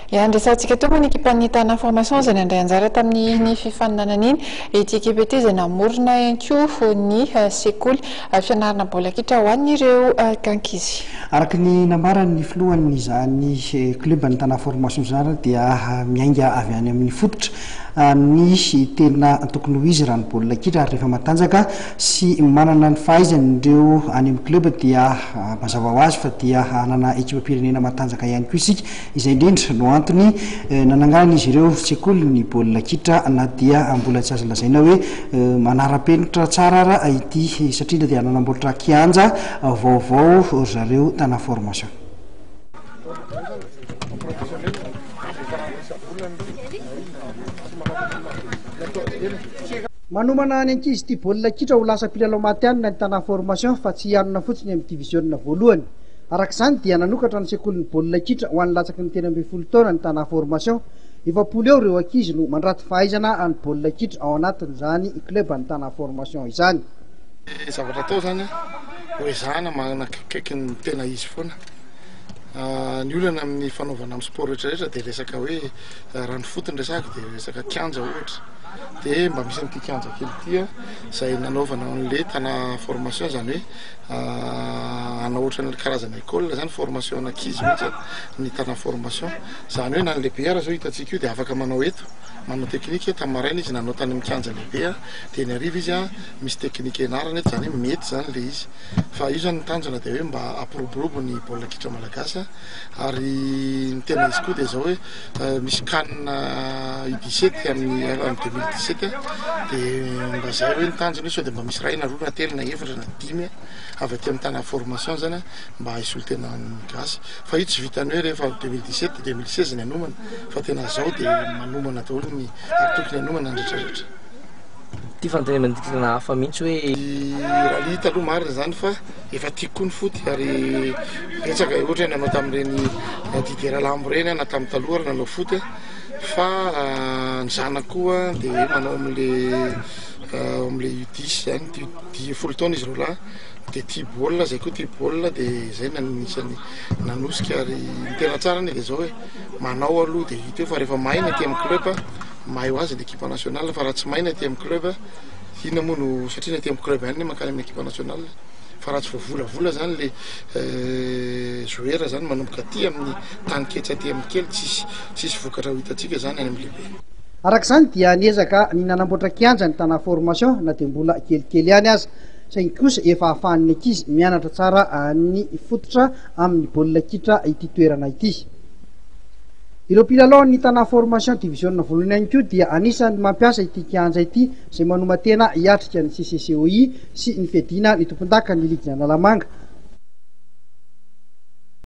Eany resahantsika teo moa ny ekipan'ny Tana Information izay nandray anjara tamin'iny fifaninanana iny. Ity ekipa ity izay namorona ihany koa ny eh, sekoly eh, fianarana baolina kitra ho an'ireo eh, kankizy. Araka ny nambaran'ny filohan'izany kluban'ny Tana Formation izany dia miainga avy any amin'ny fototra ny tena tokony ho izy raha ny baolina kitra ary rehefa matanjaka sy manana ny fahaizany ireo any amin'ny club dia mazava ho azy fa dia hanana ekipam-pirenena matanjaka ihany koa isika, izay indrindra no antony nananganan'izy ireo sekoly ny baolina kitra na dia mbola tsy azo lazaina hoe manara-penitra tsara ara ity satria dia nanamboatra kianja vaovao ry zareo tana formation. Manomana ny ankizy tia baolina kitra ho lasa mpilalao matihanina ny Tana Formation fa tsy hianona fotsiny amin'ny diviziona voalohany. Araka izany dia nanokatra ny sekolin'ny baolina kitra ho an'ny latsaky ny telo ambin'ny folo taona ny Tana Formation. Efapolo eo ireo ankizy no mandrato fahaizana amin'ny baolina kitra ao anatin'izany club ny Tana Formation izany. Ny zavatra atao izany dia ho ezahana manakaiky ny tena izy foana. Ny olana amin'ny fanaovana amin'ny sport rehetra rehetra dia resaka hoe raha ny foot no resahako dia resaka kianja ohatra dia mba misy an'ity kianja kely ity a izay nanaovana an'le tana formation izany hoe hanao ohatran'ny karazana école izany formation an'ankizy mihitsy ny tana formation izany hoe na ny lehibe aza zao hitantsika io dia afaka manao eto manao teknika tamin'ny maraina izy nanao tany amin'ny kianja lehibe dia ny hariva izy a misy teknika ianarana eto izany hoe mety izany le izy Fa io izany ny tanjona dia hoe mba hampiroborobo ny baolina kitra malagasy ary ny tena izy koa dia izao hoe misy can U17 amin'ny en 2017 dia mba izay hoe ny tanjona io sao dia mba misy iray na roa na telo na efatra na dimy avy aty amin'ny tana formation izany mba hisolo tena ny gasy fa io tsy vitany hoe rehefa 2017 dia 2016 ny hanomana fa tena izao dia manomana daholo ny ary tokony hanomana ny rehetra rehetra. Ity fanontaniana ity tena hafa mihitsy hoe. Raha ny hita aloha marina izany fa efa tiako koa ny foot ary betsaka ohatra hoe nanao tamin'ireny Didier Ralambo ireny aho na tamin'ny taloha ary nanao foot fa ny zanako koa dia manao amin'ilay amin'ilay U dix izany dia U dix folo taona izy roa lahy dia tia baolina izahay koa tia baolina dia izay no anisany nanosika ary ny tena tsara anie dia izao hoe manao aloha dia hita eo fa rehefa mahay ny aty amin'ny club mahay ho azy ny ekipa nationale fa raha tsy mahay ny aty amin'ny club inona moa no satria ny aty amin'ny club ihany no mankany amin'ny ekipa nationale fa raha tsy voavolavola zany le euh, joueur zany manomboka aty amin'ny tany ketsy aty amin'ny kely tsisy tsisy vokatra ho hitantsika zany any amin'ny lehibe Araka izany dia niezaka ny nanamboatra kianja ny Tana Formation na dia mbola kelikely ihany aza saingy kosa efa ahafahan'ny ankizy mianatra tsara ny fototra amin'ny baolina kitra ity toerana ity. Ireo mpilalao ny Tana Formation Division Volony Ainy koa dia anisan'ny mampiasa ity kianja ity izay manoman-tena hiatrika ny CCCOI sy ny fiadiana ny tompondakan'ny ligin'Analamanga.